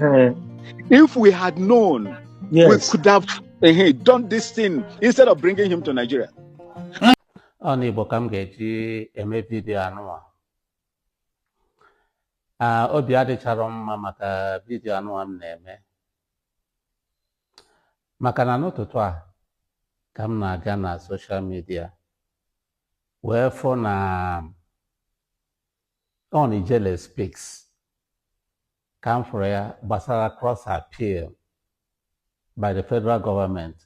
Uh, if we had known, yes. we could have uh, done this thing instead of bringing him to Nigeria. ọ n'Igbo ka m ga-eji eme vidiyo anụwa obi adịchara m mma maka vidiyo anụwa m na-eme maka na n'ụtụtụ a ka m na-aga na soshal midia wee fụ na on Ijele Speaks ka m fụrụ ya gbasara cross appeal by the federal government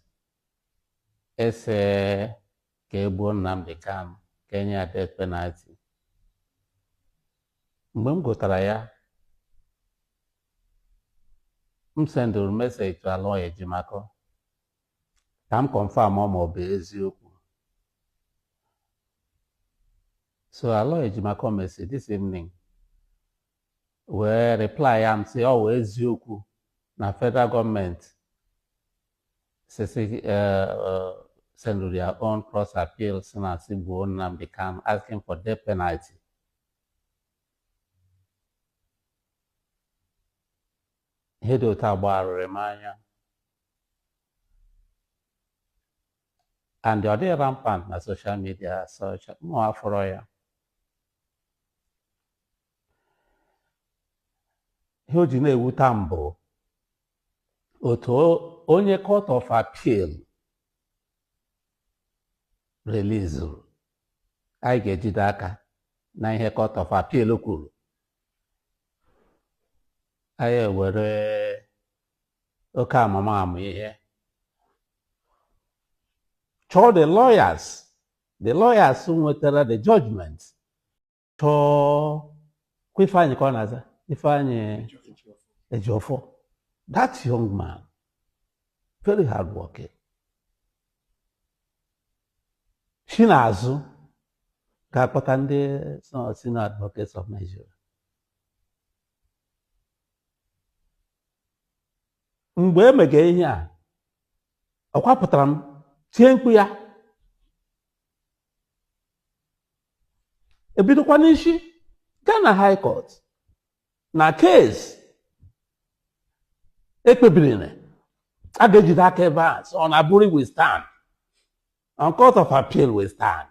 ese ka e gbuo Nnamdi Kanu ka e nye ya death penalty mgbe m gụtara ya m sendụrụ meseji to Aloy Ejimakor ka m kọnfam ma ọ bụ eziokwu so Aloy Ejimakor mesi this evening wee reply m sị ọ wụ eziokwu na federal gọọmenti sisi eh, eh, send their own cross appeal sị na sị gbuo Nnamdi Kanu asking for death penalty ihe dị otu a gbagharịrị m anya and ọ dịghị rampant na soshal midia sọcha mụ afụrọ ya ihe o ji na-ewuta m bụ otu onye court of appeal relizuru anyị ga-ejide aka na ihe court of appeal kwuru anyị ewere oke amamihe chụọ the lawyers the lawyers nwetara the judgment chụọkwa Ifeanyị ka ọ na-aza Ifeanyị Ejiofor that young man very hard working si n'azụ gaa kpọta ndị senior advocates of Nigeria mgbe e mega ihe a ọ kwa apụtara m tie mkpu ya ebidokwa n'isi gaa na high court na kes e kpebiri na a ga-ejide aka ebe a sị on Aburi we stand on court of appeal we stand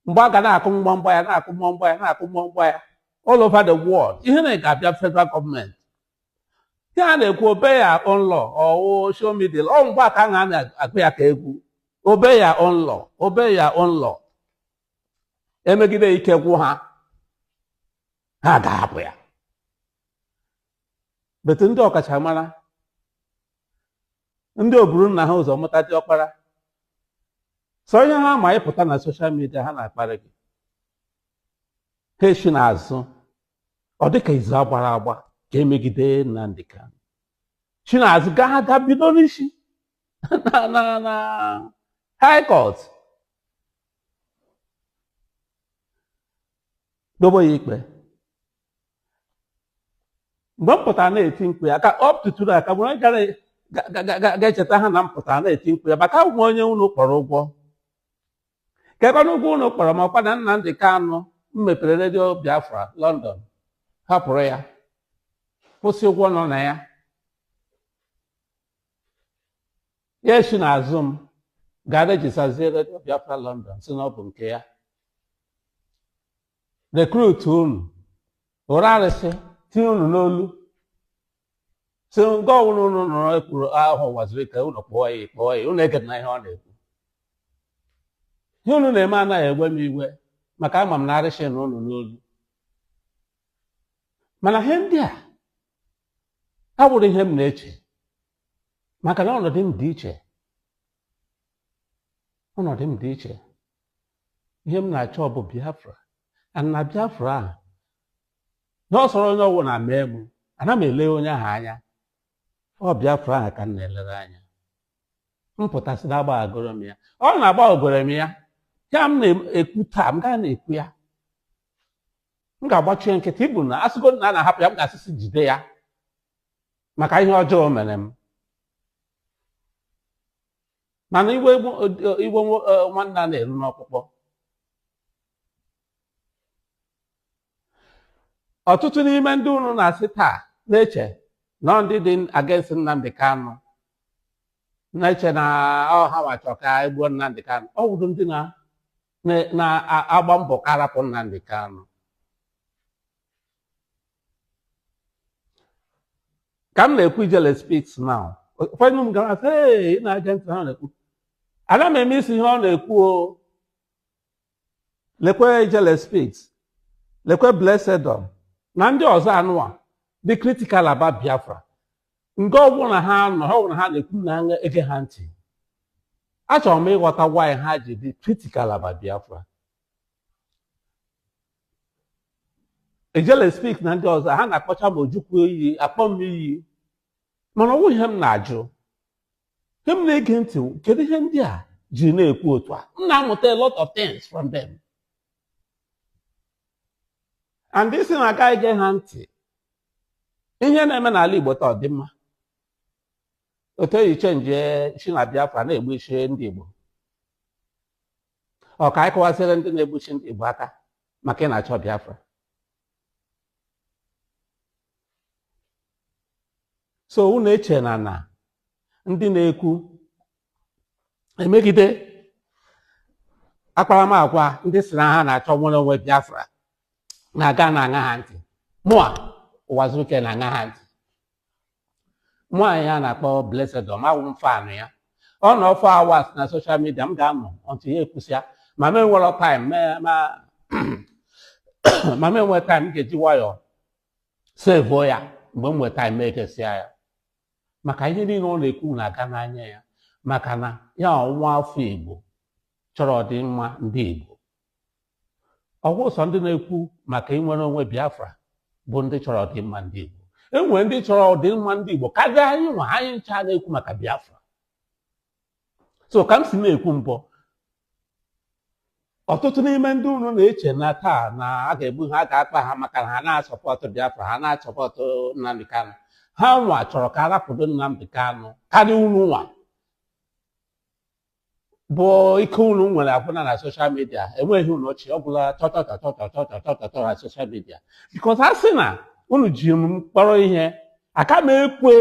mgbe a ga na-akụ mgbamgba ya na-akụ mgbamgba ya na-akụ mgbamgba ya all over the world ihe na ga-abịa federal gọọmenti ihe a na-ekwu obey your own law ọwụ show me the law ọ mgbe a ka a na-akụ ya ka egwu obey your own law obey your own law emegide ike gwụ ha ha ga-ahapụ ya but ndị ọkachamara ndị oburu nna ha ụzọ mụta diọkpara sọ ihe ha ma ịpụta na soshal midia ha na-akparị gị ha eshi n'azụ ọ dịka izu agbara agba ka emegide Nnamdi Kanu shi n'azụ gaa ha gaa bido n'isi na na na high court dobo ya ikpe mgbe m pụtara na-eti mkpu ya ka ọ pụtụtụrụ aka mgbe onye gara ga- ga- ga- ga- ga-echeta ha na m pụtara na-eti mkpu ya maka ọwụ m onye unu kpọrọ ụgwọ kekwanụ ụgwọ unu kpọrọ m ọkwa na Nnamdị Kanụ m mepere redio Biafra London hapụrụ ya kwụsịa ụgwọ nọ na ya ya esi n'azụ m gaa rejistazie redio Biafra London sị na ọ bụ nke ya rekrut unu buru arịsị tinye unu n'olu sị nga ọbụla unu nụrụ ekwuru aha Uwazuruike unu kpọọ ya kpọọ ya unu egedina ihe ọ na-ekwu ihe unu na-eme anaghị ewe m iwe maka ama m na arịsị nọ unu n'olu mana ihe ndị a awụrụ ihe m na-eche maka na ọnọdụ m dị iche ọnọdụ m dị iche ihe m na-achọ bụ biafra and na biafra ahụ ihe ọ sọrọ onye ọwụna mee m ana m ele onye ahụ anya ọ biafra ahụ ka m na-elere anya m pụta sị na agbaghagoro m ya ọwụ na agbaghagoro m ya ihe a m na-ekwu taa m gaa na-ekwu ya m ga-agbachi ya nkịtị even asịgodi na a na-ahapụ ya m ga-asị sị jide ya maka ihe ọjọọ o mere m mana iwe iwe nwanne ana eru n'ọkpụkpụ ọtụtụ n'ime ndị unu na-asị taa na-eche na ndị dị against Nnamdi Kanu na-eche na ọ ha wa chọ ka egbuo Nnamdi Kanu ọ wụrụ ndị na-agba mbọ ka arapụ Nnamdi Kanu ka m na-ekwu ijele speaks now ụfọdụ m gara sị ee ị na-ege ntị ihe ọ na-ekwu ana m eme isi ihe ọ na-ekwu o lekwe ijele speaks lekwe blesedom na ndị ọzọ anụwa dị critical about biafra nga ọbụla ha nọ ihe ọbụla ha na-ekwu ana m ege ha ntị achọrọ m ịghọta why ha ji dị critical about biafra Ijele Speak na ndị ọzọ ha na-akpọcha ma Ojukwu iyi akpọ m iyi mana ọ wụ ihe m na-ajụ ihe m na-ege ntị kedu ihe ndị a ji na-ekwu otu a m na-amụta a lot of things from them and ị sị na a ga ige ha ntị ihe na-eme n'ala Igbo taa ọ dị mma otu e ji chenji isi na Biafra na-egbu isi ndị Igbo ọ ka anyị kọwasịrị ndị na-egbushi ndị Igbo aka maka ị na-achọ Biafra so unu eche na na ndị na-ekwu emegide akparamagwa ndị si na ha na-achọ nnwere onwe Biafra na a ga na-aṅa ha ntị mụa Ụwazuruike na-aṅa ha ntị nwaanyị a na-akpọ Blessedom awụ m fan ya ọ nọ four hours na social media m ga-anọtụ ya ekwusịa ma m enwere time ma m enwe time m ga-eji nwayọọ sevuo ya mgbe m nwere time m egesịa ya maka ihe niile ọ na-ekwu na-aga n'anya ya maka na ya wụ nwa afọ Igbo chọrọ ọdịmma ndị Igbo ọ wụghị sọ ndị na-ekwu maka inwere onwe Biafra bụ ndị chọrọ ọdịmma ndị Igbo e nwere ndị chọrọ ọdịmma ndị Igbo karịa anyị nwa anyị ncha na-ekwu maka Biafra so ka m si na-ekwu mbụ ọtụtụ n'ime ndị unu na-eche na taa na a ga-egbu ha a ga-agba ha maka na ha na-asọpọtụ Biafra ha na-asọpọtụ Nnamdi Kanu ha nwa chọrọ ka a rapụdo Nnamdi Kanu karịa unu nwa bụ ike unu nwere agwụna na social media enweghị unu ọchị ọ gwụla chọchọchọchọchọchọchọchọchọ na social media because a sị na unu ji m kpọrọ ihe aka m ekwe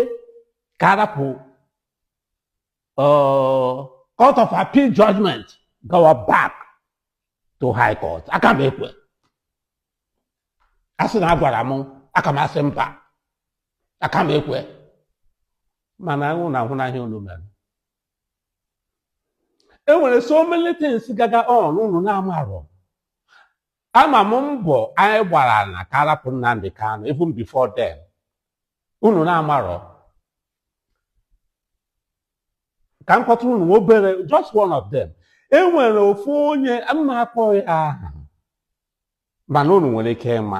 ka a rapụ court of appeal judgment gawa back to high court aka m ekwe a sị na a gwara m aka m asị mba aka m ekwe mana unu ahụna ihe unu mere e nwere so many things gaga on unu na-amarọ ama m mbọ anyị gbara na ka a rapụ Nnamdi Kanu even before then unu na-amarọ ka m kọtụrụ unu obere just one of them e nwere ofu onye m na-akpọghị aha mana unu nwere ike ịma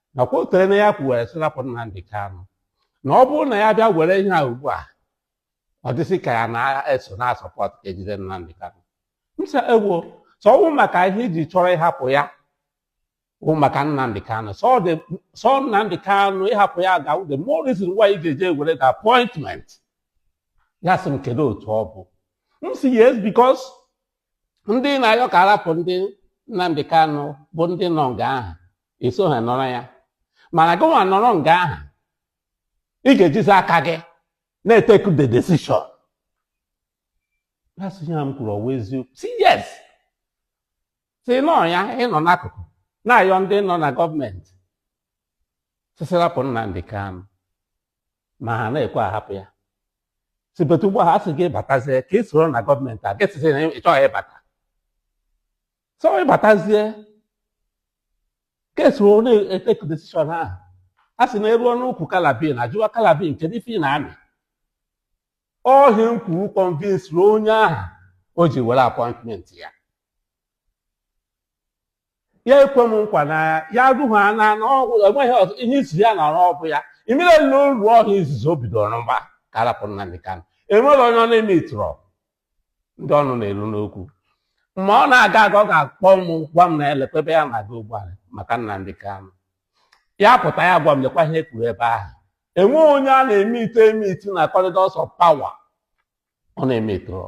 nakwa o tere na ya kwuwere sị rapụ Nnamdi Kanu na ọ bụrụ na ya bịa were ihe a ugbu a ọ dịsị ka ya na-eso na-asọpọt ka e jide Nnamdi Kanu m sị ewo so ọ bụ maka ihe i ji chọrọ ịhapụ ya bụ maka Nnamdi Kanu sọ dị sọ Nnamdi Kanu ịhapụ ya ga-awụ the more reason why ị ga-eji were the appointment ya sị m kedu otu ọ bụ m sị yes because ndị na-ayọ ka a rapụ ndị Nnamdi Kanu bụ ndị nọ nga ahụ eso ha nọrọ ya mana gị nwa nọrọ nga ahụ ị ga-ejizi aka gị na-etake the decision that's ihe m kwuru ọ wụ eziokwu sị yes sị nọ ya ịnọ n'akụkụ na-ayọ ndị nọ na gọọmenti sị sị rapụ Nnamdi Kanu ma ha na-ekwe ahapụ ya sị bet ugbu a a sị gị batazie ka ị soro na gọọmenti a gị sị sị na ị chọghị ịbata so ịbatazie ka i soro na-etake decision ahụ a sị na e ruo n'ukwu kalabin a jụwa kalabin kedu ife ị na-amị ọ ihe m kwuru convinceri onye ahụ o ji were appointment ya ya ekwe m nkwa na ya ruo na ihe izizi ya na ọrụ ọ bụ ya imere na olu ọha izizi o bidoro mgba ka a rapụ Nnamdi Kanu enwerọ onye ọ na-emeetịrọ ndị ọnụ na-elu n'okwu ma ọ na-aga aga ọ ga-akpọ m gwa m na lekwa ebe ya na-aga ugbu a maka Nnamdi Kanu ya pụta ya gwa m lekwa ihe e kwuru ebe ahụ enweghị onye a na-emeet emeet na corridors of power ọ na-emeetịrọ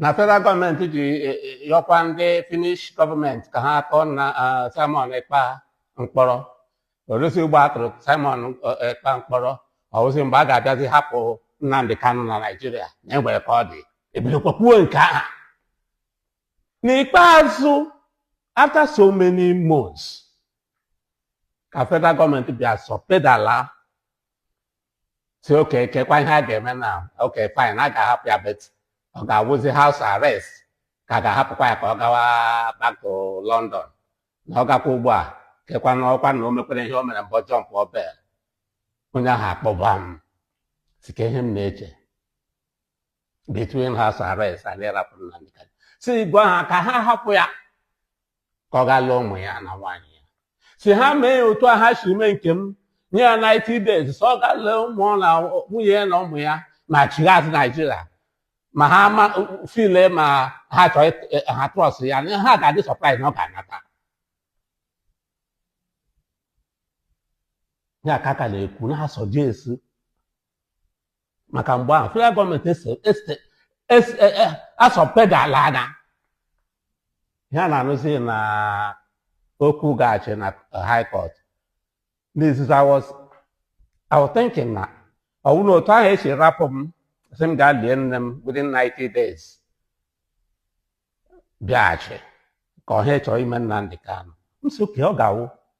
na federal gọọmenti ji e, e, yọkwa ndị Finnish gọọmenti ka ha tụọ na ah, Simon Ekpa mkpọrọ oresi ugbu a a tụrụ Simon eh, Ekpa mkpọrọ ọ wụzi mgbe a ga-abịazi hapụ Nnamdi Kanu na Naijiria na e nwere ka ọ dị e bidokwa kwuo nke aha n'ikpeazụ after so many months ka federal gọọmenti bịa soft pedal sị okay kekwa ihe a ga-eme na okay fine a ga-ahapụ ya bet ọ ga-awụzi house arrest ka a ga-ahapụkwa ya ka ọ gawa back to London na ọ gakwa ugbu a kekwa na ọkwa na o mekwere ihe o mere mbụ jumpụọ bail onye ahụ akpọba m sị ke ihe m na-eche between house arrest and ịrapụ ya m sị gwa ha ka ha hapụ ya ka ọ gaa lee ụmụ ya na nwaanyị ya sị ha mee ya otu a ha si mee nke m nye ya 90 days so ọ gaa lee ụmụ na nwunye ya na ụmụ ya ma chigha azụ Naijiria ma ha ma file ma ha chọọ ịt- eh, ha trust ya na ha ga-adị surprise na ọ ga-anata ya ka a ka na-ekwu na-asuggest maka mgbe ahụ federal gọọmenti asoft pedalana ihe a na-anụzi na okwu gaghachi na high court n'izizi I was I was thinking na ọ bụrụ na otu ahụ e si rapụ m sị m gaa lie nne m within 90 days bịaghachi ka ha chọrọ ime Nnamdi Kanu m sị okay ọ ga-awụ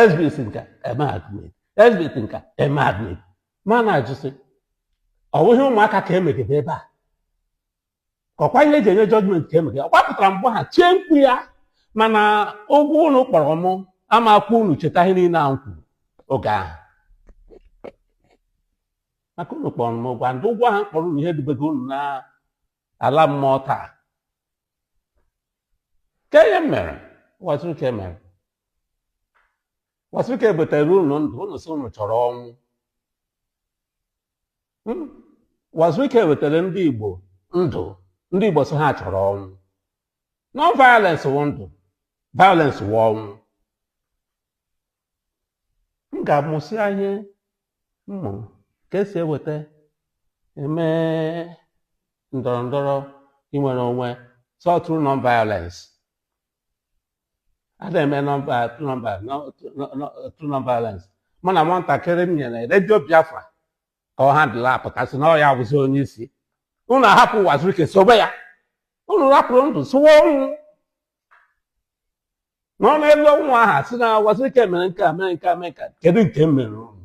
Exhibit nke a e mee admit exhibit nke a e mee admit mana a jụ sị ọ bụghị ụmụaka ka emegide ebe a ọkwa ihe eji enye judgment ka emegide ọkwa pụtara mgbe ha tie mkpu ya mana ụgwọ unu kpọrọ mụ ama ekwe unu cheta ihe niile ahụ kwuru oge ahụ maka unu kpọrọ m ụgwọ ndị ụgwọ ahụ kpọrọ unu ihe dubego unu na ala mmụọ taa ka ihe m mere Uwazuruike mere Uwazuruike butere unu ndụ unu sị unu chọrọ ọnwụ hmm? Uwazuruike wetara ndị Igbo ndụ ndị Igbo sị ha chọrọ ọnwụ non-violence wụ ndụ violence wụ ọnwụ m ga-amụsị ihe mmụ ka esi eweta eme ndọrọ ndọrọ inwere onwe so through non-violence a na-eme through non-violence mana nwatakịrị m nyere redio biafra ka ọ handle apụta sị na ọ ya bụzi onye isi unu ahapụ Uwazuruike sobe ya unu rapụrụ ndụ sowe ọnwụ nọ n'elu ọnwụ ahụ asị na Uwazuruike mere nke a mere nke a mere nke a kedu nke m mere unu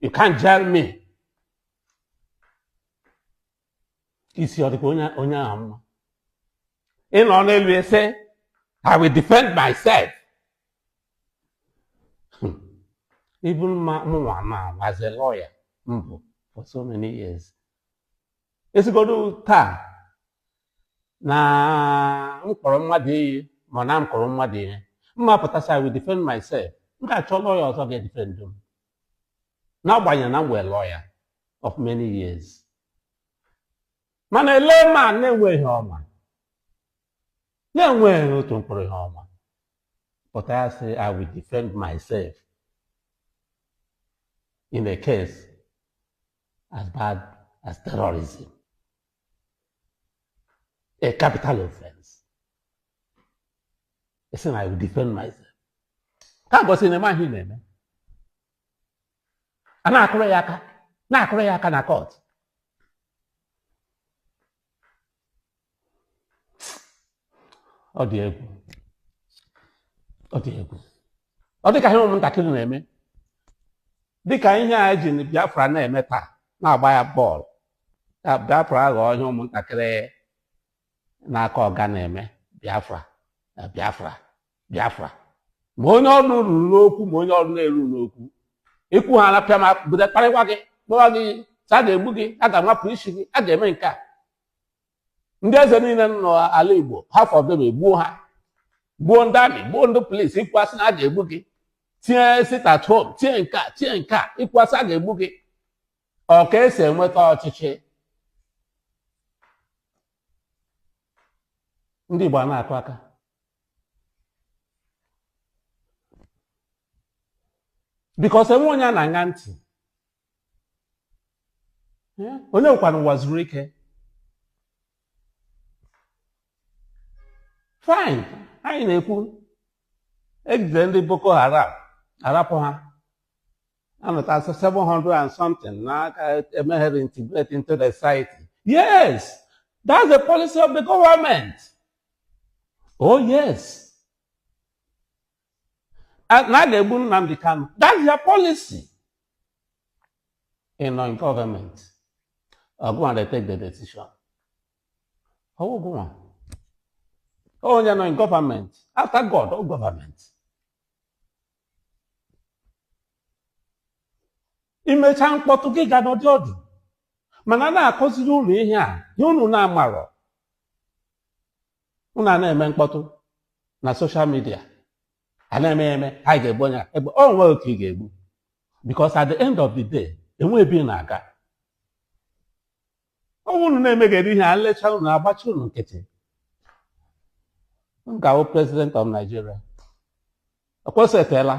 you can't jail me isi ọ dịkwa onye onye ahụ mma ị nọ n'elu asị i will defend myself Hmm. even mụnwa ma was a lawyer mbụ for so many years a sịgodu taa na m kpọrọ mmadụ iyi ma na m kpọrọ mmadụ iyi m ma apụta sị i will defend myself m ga-achọ lawyer ọzọ ga-edefend m n'agbanyeghị na m wụ lawyer of many years mana e lee man na-enweghị ihe ọ ma na-enweghị otu mkpụrụ ihe ọ ma pụta sị I will defend myself in a case as bad as terrorism. a capital offense ị sị na I will defend myself ka gosi na ị ma ihe na-eme a na-akụrụ ya aka na-akụrụ ya aka na court ọ dị egwu ọ dị egwu ọ dị ka ihe ụmụntakịrị na-eme dị ka ihe e ji Biafra na-eme taa na-agba ya ball Ka Biafra aghọọ ihe ụmụntakịrị na-aka ọga na-eme Biafra na Biafra Biafra ma onye ọnụ ruru n'okwu ma onye ọnụ na-eru n'okwu i kwuo ha arapịa ma bido kparịwa gị kpọwa gị sị a ga-egbu gị a ga-amapụ isi gị a ga-eme nke a ndị eze niile nọ n'ala Igbo half of them egbuo ha gbuo ndị amị gbuo ndị polisi i kwuo a sị na a ga-egbu gị tinye sit at home tinye nke a tinye nke a i kwuo a sị a ga-egbu gị ọ ka esi enweta ọchịchị ndị Igbo a na-akụ aka because enwe onye a na-aṅa ntị Eh, onye wụkwanụ Uwazuruike fine anyị na-ekwu e jide ndị Boko Haram arapụ ha anọtasị 700 and something n'aka emeghere integrate into the society yes that's the policy of the government oh yes na a ga-egbu Nnamdi Kanu that's their policy ị nọ in government ọ gụnwa they take the decision ọ wụ gụnwa onye nọ in government after God ọ government i mechaa mkpọtụ gị gaa nọdụ ọdụ mana a na-akụziri unu ihe a ihe unu na-amarọ unu a na-eme mkpọtụ na social media a na-eme ya eme anyị ga-egbu onye a egbu o nweghị oke ị ga-egbu because at the end of the day enwe ebe ị na-aga ọ wụ unu na-emegheri ihe a lechaa unu agbachi unu nkịtị m ga-awụ president of Nigeria ọkwa o setela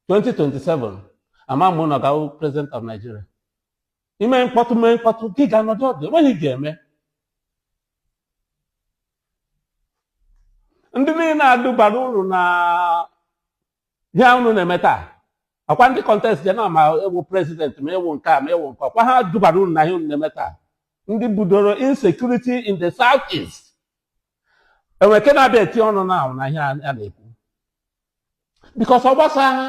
2027 ama m na ọ ga-awụ president of Nigeria i mee mkpọtụ mee mkpọtụ gị gaa nọdụ ọdụ enweghị ihe ị ga-eme ndị niile a dubara unu na ihe a unu na-eme taa akwa ndị contest je na ma ịwụ president ma ịwụ nke a ma ịwụ nke ọkwa ha dubara unu na ihe unu na-eme taa ndị budoro insecurity in the south east enwe nke na-abịa eti ọnụ na ahụ na ihe a na-ekwu because ọ gbasa ha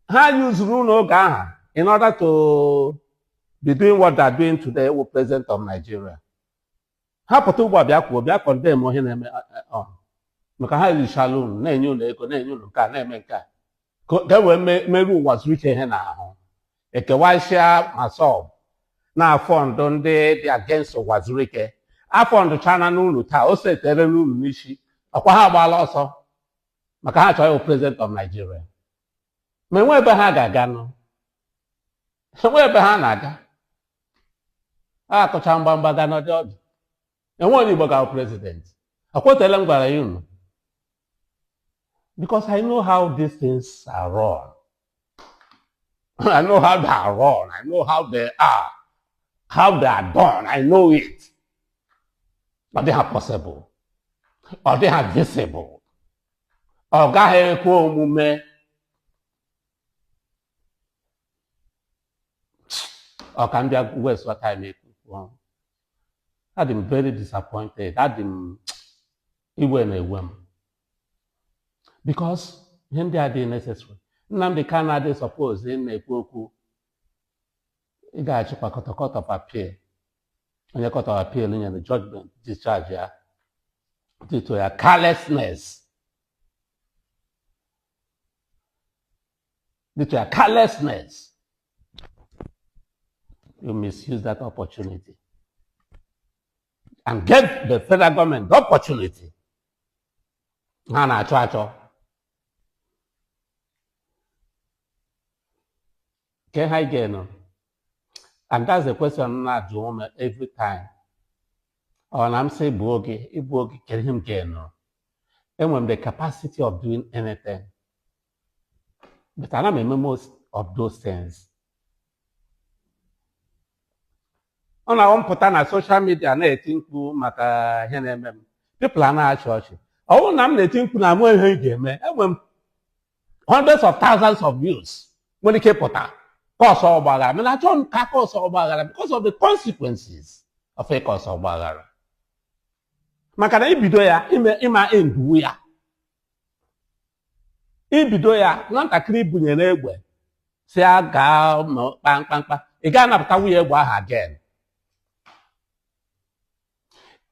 ha yuzuru unu oge ahụ in order to be doing what they are doing today ịwụ president of Nigeria ha pụta ugbu a bịa kwuo bịa condemn ihe na-eme ọha maka ha richala unu na-enye unu ego na-enye unu nke a na-eme nke a ka ka e wee me- meruo Uwazuruike ihe n'ahụ ekewasịa MASSOB na-afund ndị dị against Uwazuruike afundchaana unu taa o setere unu n'isi ọkwa ha agbaala ọsọ maka ha chọrọ ịwụ president of Nigeria ma enwe ebe ha ga-aga nụ enwe ebe ha na-aga a kụcha mgbamgba gaa nọdị ọdụ enwe onye igbo ga-awụ president ọ kwa o teele m gwara ya unu because i know how these things are run i know how they are run i know how they are how they are done i know it ọ dịghị possible ọ dịghị feasible ọ gaghị ekwe omume ọ ka m bịa wastewa time ekwu okwu adị m very disappointed adị m iwe na-ewe m because ihe ndị a adị necessary Nnamdi Kanu adị suppose ị na-ekwu okwu ịgachikwa court court of appeal onye court of appeal nyere judgment discharge ya due to your carelessness due to your carelessness, you misuse that opportunity and give the federal government the opportunity ha na-achọ achọ ke ihe anyị ga-eme nụ and that's the question m na-ajụ unu every time ọ na m sị bụ oge ịbụ oge kedu ihe m ga-eme nụ enwere m the capacity of doing anything but ana m eme most of those things ọ na-awụ m pụta na social media na-eti mkpu maka ihe na-eme m people ana-achị ọchị ọ bụrụ na m na-eti mkpu na ama ihe ị ga-eme enwe m hundreds of thousands of youths nwere ike pụta cause ọgbaghara mana achọ m ka a cause ọgbaghara because of the consequences of ị cause ọgbaghara maka na i bido ya ị ma enduwu ya i bido ya nwatakịrị i bunyere egbe sị ya gaa kpaa mkpamkpa ị ga anapụtawu ya egbe ahụ again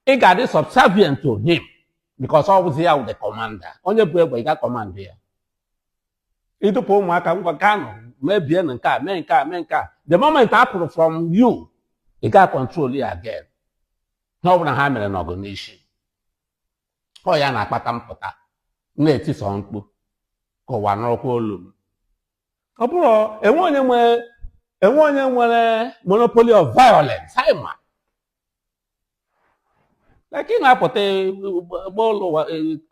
ị ga-adị subservient to him because ọ bụzi ya wụ the commander onye bu egbe ị ga command ya i dupụ ụmụaka ngwa gaanụ mebie na nke a mee nke a mee nke a the moment ha pụrụ from you ị ga control ya again ihe ọ bụla ha mere nọ gị n'isi ọ ya na-akpata m pụta na-etisi mkpu ka ụwa nụkwa olu m ọ bụrụ enwe onye nwere enwe onye nwere monopoly of violence anyị ma like ị na-apụta eh,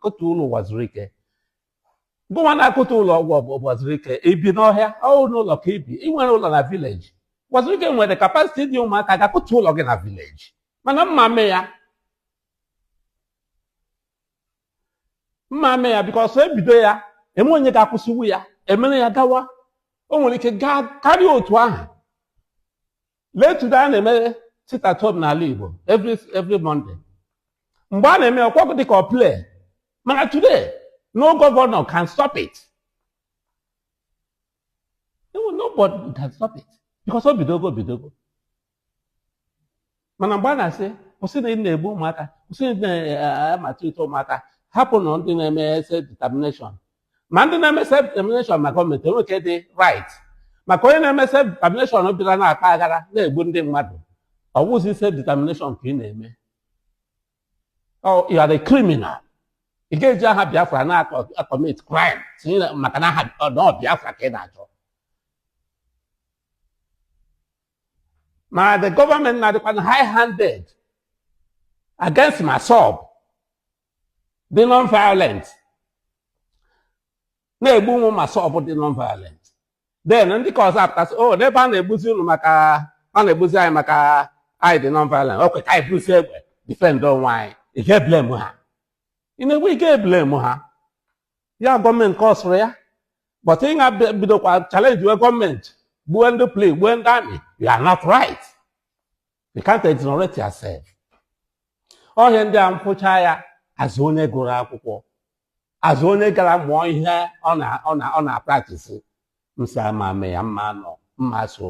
kụtuo ụlọ Uwazuruike gịwa na-akụtu ụlọ Uwazuruike i bi n'ọhịa ọ wụ n'ụlọ ka i bi i nwere ụlọ na village Uwazuruike nwere capacity idu ụmụaka ga akụtu ụlọ gị na village mana m ma eme ya mma eme ya because ebido ya enwe onye ga-akwụsịwu ya emere ya gawa o nwere ike gaa karịa otu ahụ lee today a na-eme sit at home n'ala Igbo every Monday mgbe a na-eme ọ kwa ọ dị ka ọ play mana today no governor can stop it nobody can stop it because o bidogo bidogo mana mgbe a na-asị kwụsị na ị na-egbu ụmụaka kwụsị na ị na-amaltreat ụmụaka hapụnụ ndị na-eme self determination ma ndị na-eme self determination ma gọọmenti enwe nke dị right maka onye na-eme self determination bịara na-akpa aghara na-egbu ndị mmadụ ọ wụzi self determination ka ị na-eme Oh, you are a criminal ị ga-eji aha Biafra na-acommit crime tinye na- maka na aha ọ- na ọ Biafra ka ị na-achọ na the government na-adịkwanụ high handed against MASSOB dị non violent na-egbu ụmụ MASSOB dị non violent then ndị ka ọzọ apụta sị oh, n'ebe a na-egbuzi unu maka a na-egbuzi anyị maka anyị dị non violent okay ka anyị buzi egbe defend onwe anyị ị ga-eblame ha in a way ị ga-eblame ha ya gọọmenti causeụrụ ya but ị ga bidokwa challengewe gọọmenti gbue ndị police gbue ndị army you are not right you can't exonerate yourself ọ ihe ndị a m fụcha ya as onye gụrụ akwụkwọ as onye gara mụọ ihe ọ na-apractice m sị ama m eme ya mma anọ mma eso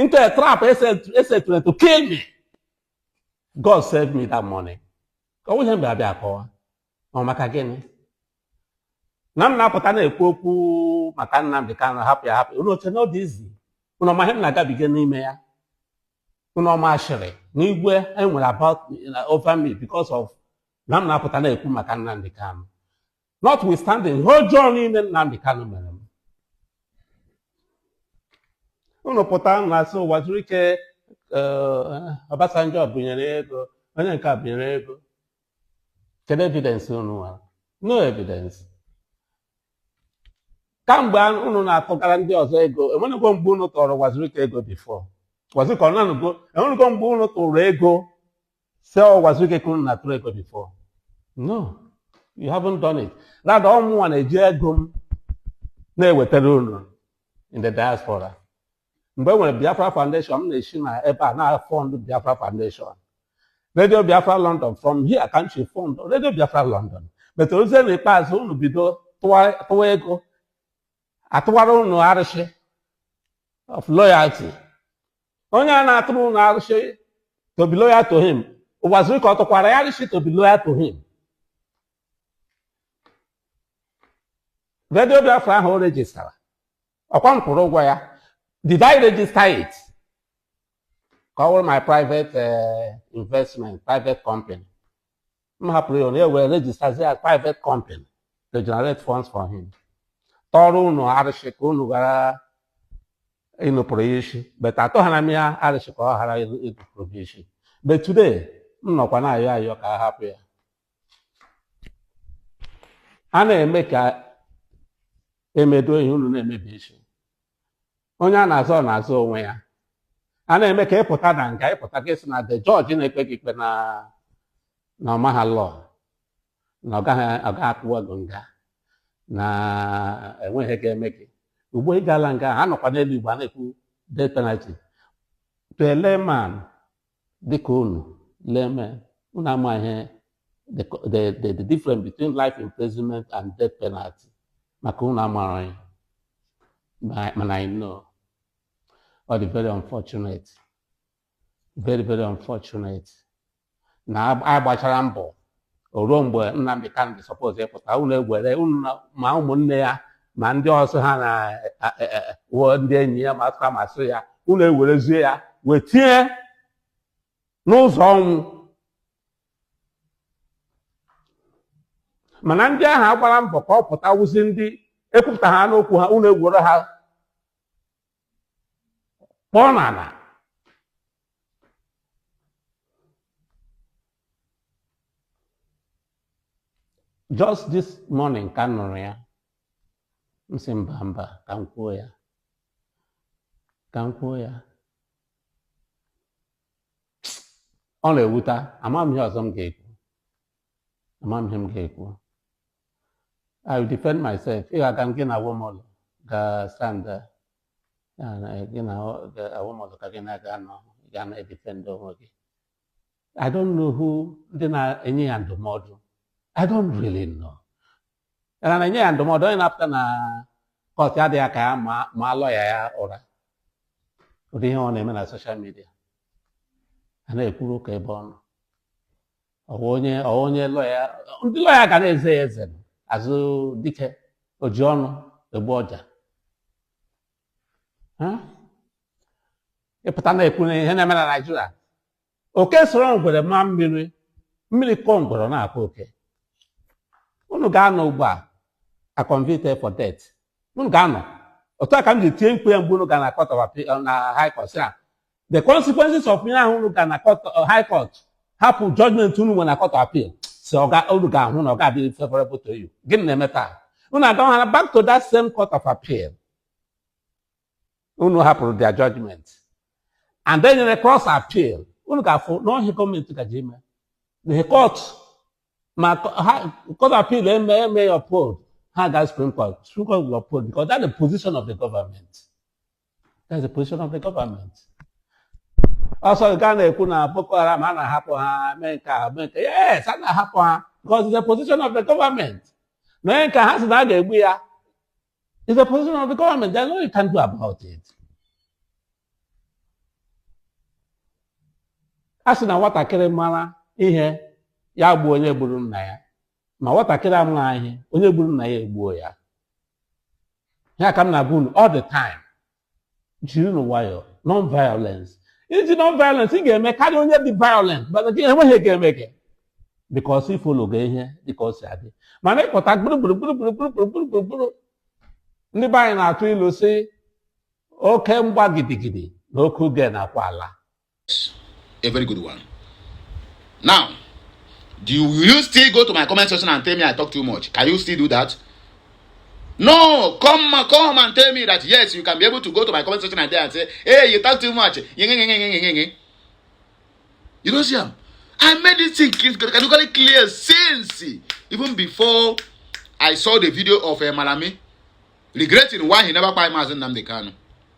into a trap e setịrị to kill me God saved me that morning ọ wụghị ihe m ga-abịa akọwa ọ maka gịnị na m na-apụta na-ekwu okwu maka Nnamdi Kanu hapụ ya hapụ unu o che na ọ dị easy unu ọ ma ihe m na-agabiga n'ime ya unu ọ ma ashịrị na igwe e nwere about over me because of na m na-apụta na-ekwu maka Nnamdi Kanu notwithstanding ihe ọjọọ niile Nnamdi Kanu mere m unu pụta na-asị Uwazuruike eh, Obasanjo bunyere ego onye nke a bunyere ego kedu evidence unu nwere no evidence kamgbe a- unu na-atụgara ndị ọzọ ego enwenugo mgbe unu tụụrụ Uwazuruike ego before Uwazuruike ọ nanụgo enwenugo mgbe unu tụrụ ego sị ọ Uwazuruike ka unu na-atụrụ ego before no you haven't done it rather ọ mụnwa na-eji ego m na-ewetara unu in the diaspora mgbe e nwere Biafra Foundation m na-esi na ebe a na-afund Biafra Foundation Radio Biafra London from here ka m si fund Radio Biafra London but o ruzie na ikpeazụ unu bido tụwa ego atụwara unu arụsị of loyalty onye a na-atụrụ unu arụsị to be loyal to him Ụwazuruike ọ tụkwara ya arụsị to be loyal to him redio biafra ahụ o rejistara ọkwa m kwụrụ ụgwọ ya did i register it ka ọ wụrụ my private eh, investment private company m hapụrụ ya ya wee rejistazi ya private company to generate funds for him tọrọ unu arịsị ka unu ghara inupụrụ ya isi but atọghara m ya arịsị ka ọ ghara inupụrụ m isi but today m nọkwa na-ayọ ayọ ka a hapụ ya a na-eme ka e medo ihe unu na-emebisi onye a na-azọ ọ na-azọ onwe ya a na-eme ka ị pụta na nga ị pụta ga asị na the judge na-ekpe gị ikpe na na ọ maha law na ọ gaghị ọ gaghị atụwa gị nga na enweghị ga-eme gị ugbo ị gaala nga ha nọkwa n'elu ugbo a na-ekwu death penalty to a layman dịka unu laymen unu amaghị the, the, the, the difference between life imprisonment and death penalty maka unu amara ya mana I know ọ dị very unfortunate very very unfortunate na a gbachara mbọ ruo mgbe Nnamdi Kanu suppose ịpụta unu egwere unu na- ma ụmụnne ya ma ndị ọzọ ha na a- a- a- wụọ ndị enyi ya ma asụka ma asụ ya unu ewerezie ya wee tinye n'ụzọ ọnwụ mana ndị ahụ agbara mbọ ka ọ pụta wụzi ndị ekwupụta ha n'okwu ha unu egwere ha kpọọ n'ala just this morning ka m nụrụ ya m sị mba mba ka m kwuo ya ka m kwuo ya ọ na-ewuta ama m ihe ọzọ m ga-ekwu ama m ihe m ga-ekwu I will defend myself ị ga-aga gị na Awomolo ga stand gị na Awomolo ka gị na ya ga-anọ ga na-edefend onwe gị I don't know who ndị na-enye ya ndụmọdụ I don't really know ya na-enye ya ndụmọdụ onye na-apụta na kọtụ ejiri aka ya maa lọya ya ụra ụdị ihe ọ na-eme na social media a na-ekwuru ụka ebe ọ nọ ọ wụ onye ọ wụ onye lọya ndị lọya ga na-eze ya eze azụ dike oji ọnụ egbu ọja Ha? ị pụta na-ekwu na ihe na-eme na naijiria oke soro ngwere maa mmiri mmiri kọọ ngwere ọ na-akọ oke unu ga-anọ ugbu a a convicted for death unu ga-anọ otu a ka m ji tie mkpu ya mgbe unu ga na court of appeal na high court sị na the consequences of ihe ahụ unu ga na court uh, high court hapụ judgment unu nwe na court appeal sị ọ ga unu ga-ahụ na ọ ga-adịrị favorable to you gịnị na-eme taa unu agawara back to that same court of appeal unu hapụrụ their judgment and then nyere cross appeal unu ga-afụ na ọ ihe a gọọmenti gaje ime na ihe court ma co- ha- court appeal eme emee ya uphold ha gaa supreme court supreme court will uphold because that's the position of the government That's the position of the government. also nke a na-ekwu na Boko Haram a na-ahapụ ha mee nke a mee nke yes a na-ahapụ ha because it's the position of the government na onye nke ha sị na a ga-egbu ya is the position of the government there's nothing you can do about it a sị na nwatakịrị mara ihe ya gbuo onye gburu nna ya ma nwatakịrị amaghị ihe onye gburu nna ya egbuo ya ya ka m na-agwa unu all the time jirinụ nwayọọ non violence i ji non violence ị ga-eme karịa onye dị violent mana gị enweghị ihe ga-eme gị because ị follow ga ihe dịka o si adị mana ị pụta gburugburu gburugburu gburugburu gburugburu gburu ndị be anyị na-atụ ilu sị oke mgba gidigidi na oke uge na-akwa ala a very good one now do you, will you still go to my comment section and tell me i talk too much can you still do that no come come and tell me that yes you can be able to go to my comment section and there and say hey you talk too much you don't see am i made this thing categorically clear since even before i saw the video of uh, malami regretting why he never buy mazin namdekanu